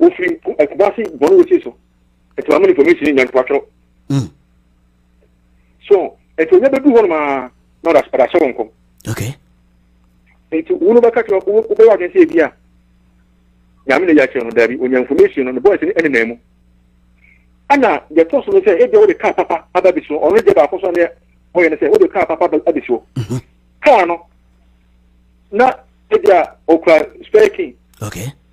wɔfiri kumase bɔne wɔsi so ɛtumi ama nipa mɛsini nya nipa twerɛ hmm. so ɛti ɔnya bɛdu hɔ nomaa na ɔda hyɛ wɔn kɔm nti wo no bɛka kyerɛ wobɛyɛ adwene sɛ ebi a nyame na yɛ akyerɛ no daabi ɔnya information no ne bɔɔs no ɛne nan mu ɛna deɛ ɛtɔ so no sɛ ebia wode kaa papa aba bi so ɔno deɛ baako so neɛ ɔyɛ no sɛ wode kaa papa aba bi so mhm. kaa no na ebia ɔkura spare key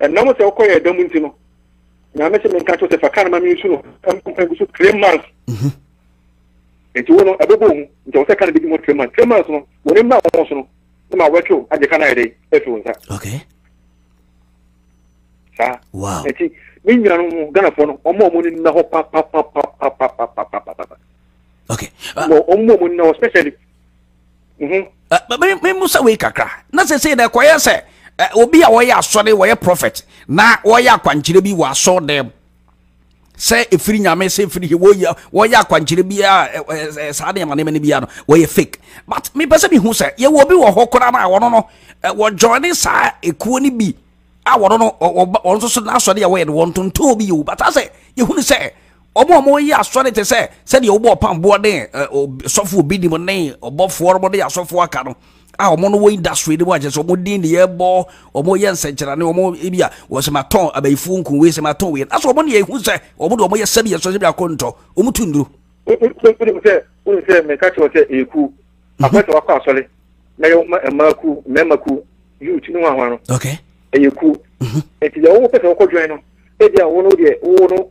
Ɛnam sɛ wokɔ yɛn da mu nti no, Nyame se menka kyerɛ sɛ fa kar no ma me nsu no mmɔ mpae gu so three months. Mhm. Nti wo no ɛbɛbɔ wo mu, nti ɛwɔ sɛ ka no bɛdi mu hɔ three months. Three months no, wɔn ani mmra wɔn so no, na ma wɔtwew agye ka no ayɛ dɛn afi wo nsa. Okay. Saa. Wow. Nti me nuanom no, Ghanafoɔ no, wɔn a wɔn ani nna hɔ papapapapapapapapa. Okay. Uh, wɔn a wɔn ani nna hɔ especially Mhm. memusa wei kakra na sɛsei dɛ kɔyɛ sɛ obi a wɔyɛ asɔre wɔyɛ prɔfɛt na wɔyɛ akwankyerɛ bi wɔ asɔr dɛm sɛ ɛfiri nyame sɛ ɛfiri he wɔyɛ akwankyerɛ biaa saa nneɛma nneɛma no biaa no wɔyɛ fake but mepɛ sɛ mehu sɛ yɛwɔ bi wɔ hɔ koraa no a wɔno no wɔjoine saa ɛkuo no bi a wɔno no wɔn nso so n'asɔre a wɔyɛ no wɔntontɔn bi yɛ o but asɛ yɛhunu sɛ Wɔn a wɔyɛ asɔre te sɛ sɛdeɛ wɔbɔ ɔpamboɔ ne sɔfo obi nim ne ɔbɔfoɔ no ne asɔfoɔ aka no a wɔn no wɔ industry no mu akyɛ sɛ wɔn din ne yɛbɔ wɔn yɛ nsɛnkyerɛnne wɔn ebi a wɔsɛ ma tɔn abayifoɔ nku wei sɛ ma tɔn wei asɛ wɔn deɛ ehu sɛ wɔn deɛ wɔn yɛ sɛbi ɛsɔ sɛbi akɔ ntɔ wɔn tu nduro. wonim sɛ wonim sɛ meka kyerɛ sɛ ɛyɛ kuo akɔ sɛ wakɔ asɔre na yɛ mmaa kuo mmarima kuo youth ne ho ahoa no ɛyɛ kuo nti deɛ wowopɛ sɛ wokɔ dwan no ebi a wo no deɛ wo no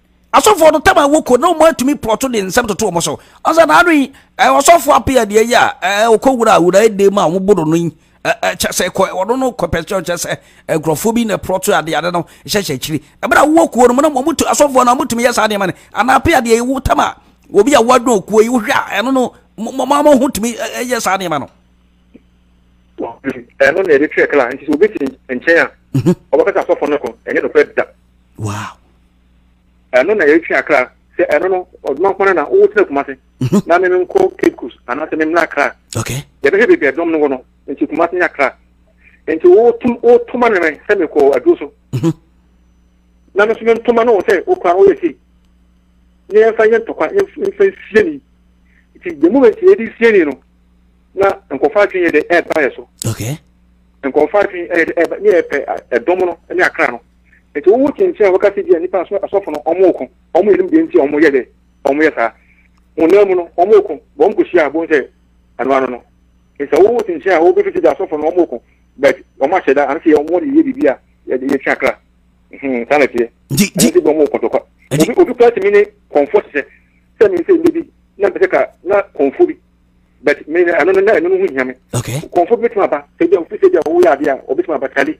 asɔfoɔ no tam a wɔkɔ na wɔn atumi pɔtɔ de nsɛm toto wɔn so ɔsɛ na ano yi ɔsɔfoɔ ape adeɛ yi a ɔkɔ wura wura ɛdɛm a wɔn boro no yi kyɛ sɛ kɔ ɔno no kɔ pɛsɛ kyɛ sɛ nkurɔfoɔ bi na pɔtɔ adeɛ adeɛ no hyɛhyɛ akyiri ɛbɛrɛ a wɔwɔ kuo no mu na wɔn tu asɔfoɔ na wɔn tumi yɛ saa nneɛma no anaa ape adeɛ yi wɔn tam a obi a wɔadɔn okuo yi wohwɛ a ɛno no mɔmɔ ho tumi yɛ saa nneɛma no. ɛno na yɛde kyerɛ kala nti sɛ obi te nkyɛn a ɔbɛkasa asɔfo no ko ɛnyɛ nokorɛ da wow ɛno na yɛtwe akra sɛ ɛno no ɔdoma nko na wo tena kuma se mhm. na me menkɔ cape coast anaasɛ me mmra akra yɛbɛhwɛ baabi ɛdɔm no wɔ no nti kuma se ne akra nti wotum wotoma ne mɛn sɛ mekɔ aduro so mhm. na me nso mentoma no wɔ sɛ wokora no woyɛ sei ne yɛmfa yɛ ntɔkwa yɛmfa nsie ni nti the moment yɛde sie ni no na nkɔfa adwene yɛ de ɛba yɛ so nkɔfa adwene yɛ de ɛba ne yɛ pɛ ɛdɔm no ne akra no nti wowo te nkyɛn a wɔka sɛ bi a nipa aso asɔfo no wɔn ko wɔn yɛ nim deɛ nti a wɔn yɛ dɛ wɔn yɛ saa honam mu no wɔn ko wɔn ko hyia abon sɛ ano ano no nti sɛ wowo te nkyɛn a wɔbɛfi sɛ bi asɔfo no wɔn ko but wɔn ahyɛ da ano sɛ yɛ wɔn de yɛ biribi a yɛde yɛ twe akra hmm, saa na teɛ ɛno sɛ bi wɔn ko tɔkwa obi obi kura tumi ne kɔnfɔ sɛ sɛ mi nsɛ mbɛ bi na mpɛ sɛ ka na kɔnfɔ bi but me ɛno no na ɛno no ho hia me kɔnfɔ bi bɛtumi aba sɛ bi a ofi sɛ bi a wɔyɛ adeɛ a wɔbɛtumi aba tali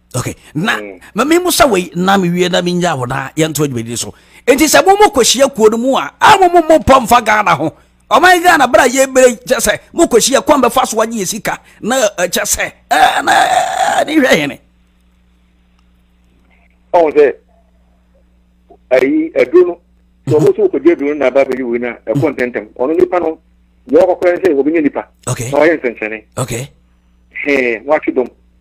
okay na mm. ma me musa wei na me wie na me nya wo na yɛnto adwumadi so enti sɛ mo mo kɔhyia kuo no mu a a mo mo mo mpɔ mfa ghana ho ɔman ghana berɛ a yɛbere kyɛ sɛ mo kɔhyia kwan bɛfa so agye yɛ sika na kyɛ sɛ na ne hwɛ hene ɔhu sɛ ayi aduro no sɛ ɔmo so kɔgye aduro no na aba bɛyi wei no a ɛkɔ ntɛntɛm ɔno nipa no deɛ ɔkɔkɔrɛ sɛ wɔbɛnya nipa na ɔyɛ nsɛnkyerɛne hee wɔatwe dɔm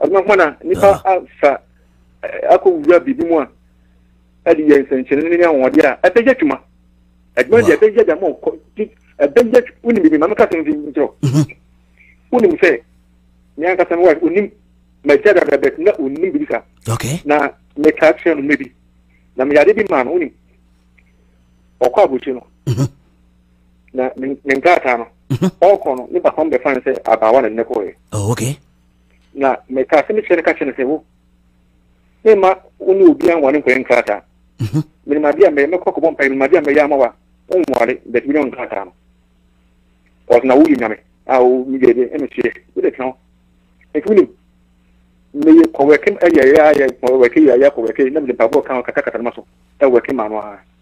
ɛno ho na nipa ah. afa akɔ wura biribi mu a ɛde yɛ nsɛnkyerɛnne ne ahoɔden a ɛbɛyɛ adwuma adwuma deɛ ɛbɛyɛ dama ɔkɔ ɛbɛyɛ wonim bibi maame kasa mfi nkyerɛ mhm. wonim sɛ me ankasa me wife onim magya dada bɛt na onim bibi sa na meka kyerɛ no mɛbi na meyade bi maa no wonim ɔkɔ abɔkyi no mhm. na ne nkrataa no mhm. ɔkɔ no ne papa no bɛfa no sɛ abaawa na ne kɔɛ oh, okay. na meka sɛ mekyerɛ no ka kyerɛ no sɛ wo mema wo ne obi anware nkɔyɛ nkrataa mhm. menimade a mɛyɛ mɛkɔ kɔbɔ mpae menimade a mɛyɛ ama wa wonware but wonyɛ nkrataa no ɔsɛ na woyɛ nyame a meyɛ dɛ ɛno soɛ wode tena hɔ ɛnti wonim meyɛ kɔwɛke ɛyɛyɛayɛ kɔwɛke yɛyɛ kɔwɛke na mede mpaboɔ ka kakakata no ma so ɛwɛke ma no ara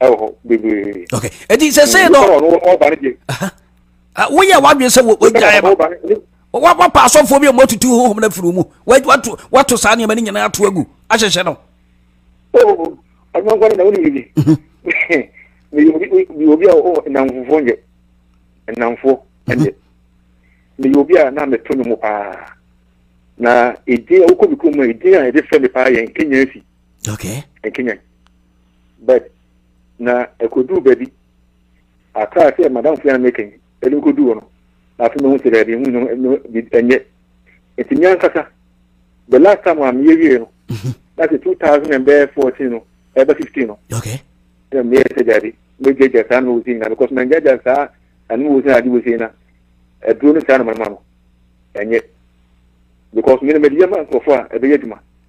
ɛwɔ hɔ bebree. ok eti sese no. nipa wɔn wɔn ba ne deɛ. woyɛ wadwin sɛ wɔ wɔgya yɛ ba wa wa pa asɔfoɔ bi a wɔn atutu huhum na firi mu wa wato wato saa nneɛma ne nyinaa ato agu ahyehyɛ no. oo ɔno nkwa ne na wɔn nyini. mi obi mi obi a ɔwɔ nnamfofoɔ nyɛ nnamfoɔ ɛnyɛ mi obi a na mi to ne mu paa na edin a wokɔ mi kurom a edin a yɛde fɛ mi paa yɛ nkenya efi. okay nkenya. but na ɛkɔduu baabi a kaa sɛ madamfo yɛ a meka yi ɛde kɔduu hɔ no na afei mahu sɛ daabi ɛho no ɛnyɛ nti me ankasa the last time a meyɛ wie no na sɛ 2014 no ɛbɛ 15 no ɛna meyɛ sɛ daabi mɛgyagya saa no wɔsi nyina because mangyagya saa ɛno wɔsi ade wɔsi na aduro no saa no mama no ɛnyɛ because mene mede yɛma nkurɔfoɔ a ɛbɛyɛ adwuma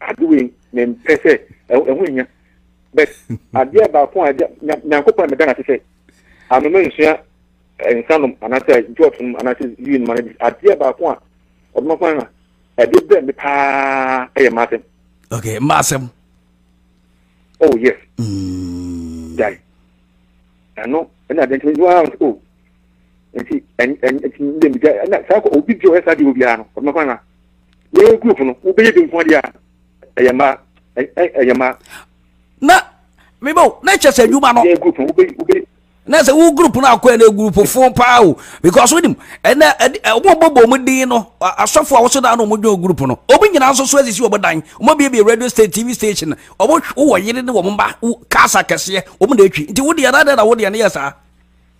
ade wei mempɛ sɛ ɛho nya but adeɛ baako a nyankopɔn a meda no ase sɛ anoma nsua nsa nom anaasɛ jot nom anaasɛ ui nom anabi adeɛ baako a ɔdoma kwan na ɛde brɛ me paa ɛyɛ maasɛm okay maasɛm oh yes mm. gyae ɛno ɛna adeɛ nkyɛn nyiwa o nti ɛnna bi ɛnna saa kɔ obi bi ɔyɛ saa deɛ obiara no ɔbɛma kwan ma yɛyɛ group no wobɛyɛ bi nko adeɛ a ɛyɛ mma ɛyɛ mma. na mebo na kyɛ sɛ adwuma no yɛ group no wobɛyi wobɛyi na sɛ wo group no akɔ ɛnɛ group fo paa o because wonim ɛnɛ ɔmo bɔbɔ ɔmo din no asɔfo a wɔso dan no ɔmo dwon group no ɔmo nyinaa nso so asisi ɔmo dan ɔmo abiebie radio station tv station ɔmo wɔ yere ne wɔn mma cars akɛseɛ ɔmo na atwi nti wodeɛ na adɛn na wodeɛ no yɛ saa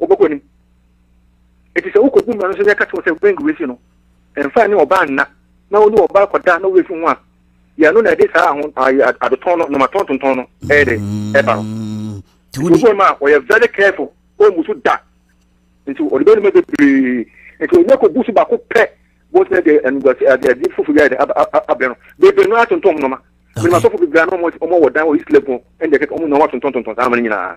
Wɔbɛkɔ anim. Enti sɛ wokɔbu mmara no so na yɛka kyerɛ wo sɛ wɛngu w'afi no, mfa ne ɔbaa nna, na wo ne ɔbaa kɔda na woafi ho a, yɛ ɛno na ɛde saa aho, ayi, adetɔn no, nnomatɔn tontɔn no ɛyɛ dɛ, ɛba no. Nti obu no ma ɔyɛ very careful, ɔmmu so da. Nti ɔde bɛyɛ nneɛma bebree. Nti onya kɔbu so baako pɛ, bɔs na ɛde animguase, ade, ade foforɔ bi ayɛ dɛ, aba, aba, abrɛ no. Bebree no ara tontɔn nnoɔma. Menim asɔfo bebree a na wɔn, wɔn wɔ dan wɔ East Legon, ɛnna ɛkeka, wɔn nyinaa wɔatontɔn tontɔn saa nnoɔma no nyinaa.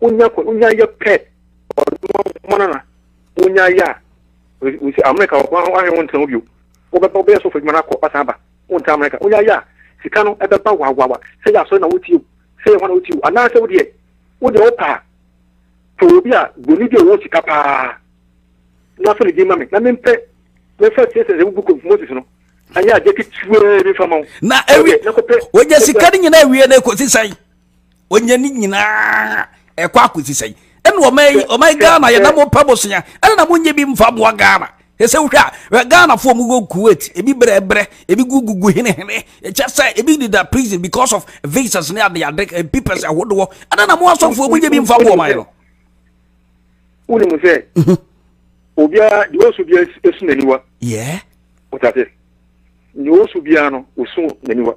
wonya kɔ wonya yɛ pɛ ɔmɔna na wonya yɛ a wosi amerika wɔ kwan ahwɛ wɔn ntɛn bio wɔbɛba wɔbɛyɛ sɔfo adwuma no akɔ ɔsan ba wɔn ntɛn amerika wonya yɛ a sika no ɛbɛba wawawa sɛ yɛ asɔre na wotie o sɛ yɛ hɔ na wotie o anaasɛ wodeɛ wodeɛ wo paa pɛ obi a boni bi a ɔwɔ sika paa na afɔ ne din ma me na mempɛ mɛfa tie sɛ sɛ book of moses no ɛnyɛ adeɛ ketewa bi fa ma wo na ɛwi wogya sika no nyinaa awie na ɛkɔsi sɛn ɔnya ne nyinaa ɛkɔ akɔsi sɛn ɛna ɔma ghana yɛna mopɛ bosea ɛna na monyɛ bi mfa boa ghana ɛsɛ wohwɛ a ghanafoɔ mu wɔ kuwait ebi brɛbrɛ ebi gugugu henehene ɛkyɛ sɛ ebi deda prison because of visas ne adeade eh, papers ahodoɔ ɛna na mo asɔfoɔ monyɛ bi mfa boɔ man no wonim sɛ mhm. obiara deɛ ɔsu biara ɛsu n'aniwa wotate deɛ ɔsu biara no ɔsu n'aniwa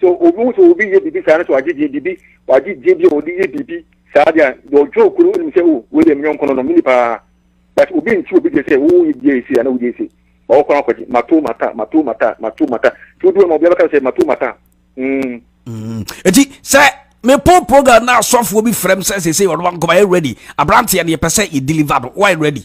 So obi hu sɛ obi yɛ biribi saa na sɛ wagye deɛ biribi wagye deɛ bi a wɔde yɛ biribi saa deɛ a deɛ ɔdwene okuro no nim sɛ o oh, wei deɛ menyɔnko no no mini paa but obi nti obi deɛ sɛ woyɛ bia esi a na wodi esi ma wɔkɔ no akɔgye mato mata mato mata mato mata nti wodi ma obi abɛka sɛ mato mata mm. Mm. eti sɛ mepo program na asɔfoɔ bi frɛ m sɛ sesei ɔno wankɔma yɛ ready aberanteɛ no yɛpɛ sɛ yɛ deliver no why ready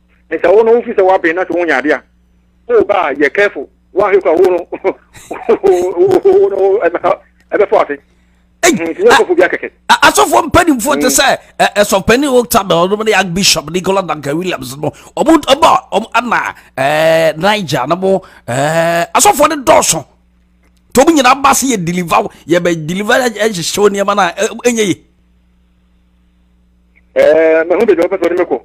ne sɛ wo no wofi sɛ woaben na sɛ wonya ade a o ba a yɛ careful woanhwɛ kora wo no ɛbɛfo ase asɔfoɔ mpanimfoɔ te sɛ ɛsɔpani octabel ɔnom ne ak bishop nicola duncan williams no ɔmo ɛbɔ ɔmo ana ɛɛ niger no mo ɛɛ asɔfoɔ no dɔɔso tɔm nyinaa ba se yɛ deliver yɛ bɛ deliver ɛhyehyɛ nneɛma no a ɛnyɛ yie ɛɛ mahu baabi a wɔpɛ sɛ wɔde me kɔ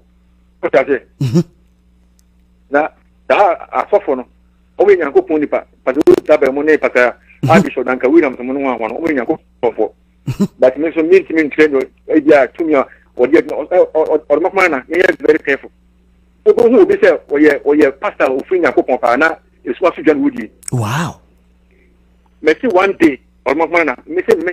wota sɛ mhm. na saa asɔfo no wɔyɛ nyankopɔn nipa pàtó wọ́n ta bẹ̀rẹ̀ mu ne pàtó a mhm. abisọ danka williams mu no ho ahoa no wɔyɛ nyankopɔn fọ mhm. but mi nso mi ntumi nkyerɛ no ebi a tumi a wɔde ɛdi ɔde mako mana mi yɛ very careful obi hu obi sɛ ɔyɛ ɔyɛ pastor a ofin nyankopɔn paa na esu aso dwa no wodie. wow. mɛ si one day ɔde mako mana mi sɛ mi.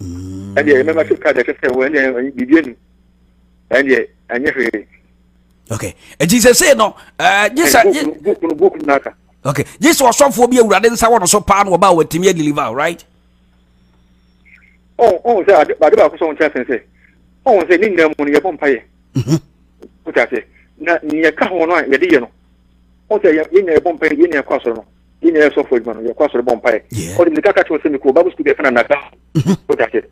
mm. ɛdeɛ yɛmɛma sɛ ka deɛ ɛsɛ sɛ wɔ ɛdeɛ biribi ani ɛdeɛ ɛnyɛ hwee okay nti sɛ sei no gye sɛ okay gye sɛ ɔsɔfoɔ bi awurade nsa wɔ no so paa na wɔba a wɔatumi adeliver right ɔhu sɛ ade baako sɛ ɔnkyɛ sɛn sɛ ɔhu sɛ ne nyinaa mu no yɛbɔ mpayɛ wotasɛ na neɛ ka ho no a yɛde yɛ no ɔhu sɛ yɛnya yɛbɔ mpayɛ yɛnya ɛkɔ asɔre no yɛ nyinaa yɛ sɔfo adwuma no yɛkɔ asɔre bɔ mpaeɛ ɔde mmirika ka kyerɛ sɛ mekɔ bible school bi ɛfɛ na naka ɔda sɛ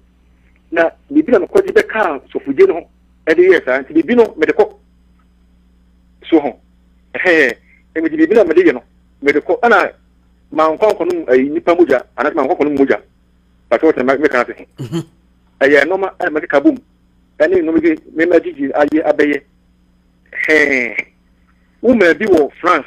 na biribi na mekɔgye bɛkaa sɔfodie no ho ɛde yɛɛ saa nti biribi no mede kɔ so ho ɛhɛɛ ɛmede biribi na mede yɛ no mede kɔ ɛna mankwankɔ no ɛyi nipa mogya anaasɛ mankwankɔ no mogya pàtó ɔsɛ mɛka ase ɛyɛ nneɛma ɛna mɛde ka bom ɛne nneɛma bi mɛma gyigyi ayɛ abɛyɛ hɛɛ woma bi wɔ france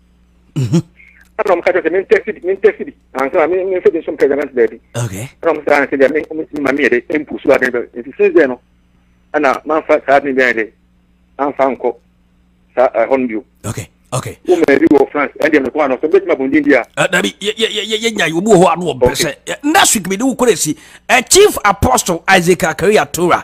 mhm. ɛna ɔmo ka kyerɛ sɛ mentɛsi bi mentɛsi bi ansa na menfɛ bi nso mpɛ gyanant baabi ɛna ɔmo sɛ ansɛ deɛ ɔmo tumi ma meyɛ de ɛmpu so aden bɛ nti since then no ɛna manfa saa aden bɛn de anfa nkɔ saa ɛhɔ no bio okay okay wo mɛ bi wɔ france ɛn deɛ mekɔ ano sɛ bɛtumi abɔ ndin bi a ah, dabi yɛnya yi obi wɔ hɔ ano ɔbrɛ sɛ next week mede wo kɔrɛ si chief apostle isaac akaria tora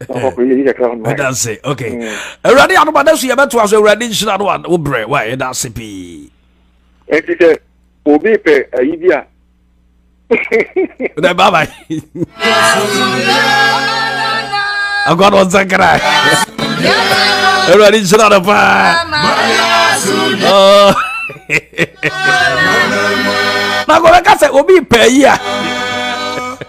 ɛda ase ok awurade adoma da so yɛbɛtoa so awurade nhyira no a wo berɛ wa ɛda ase pii ɛnti sɛ obi pɛ ayi bi a dɛ babae agwa no ɔnsa nkra awurade nhyira no paa na kɔbɛka sɛ obi pɛ ayi a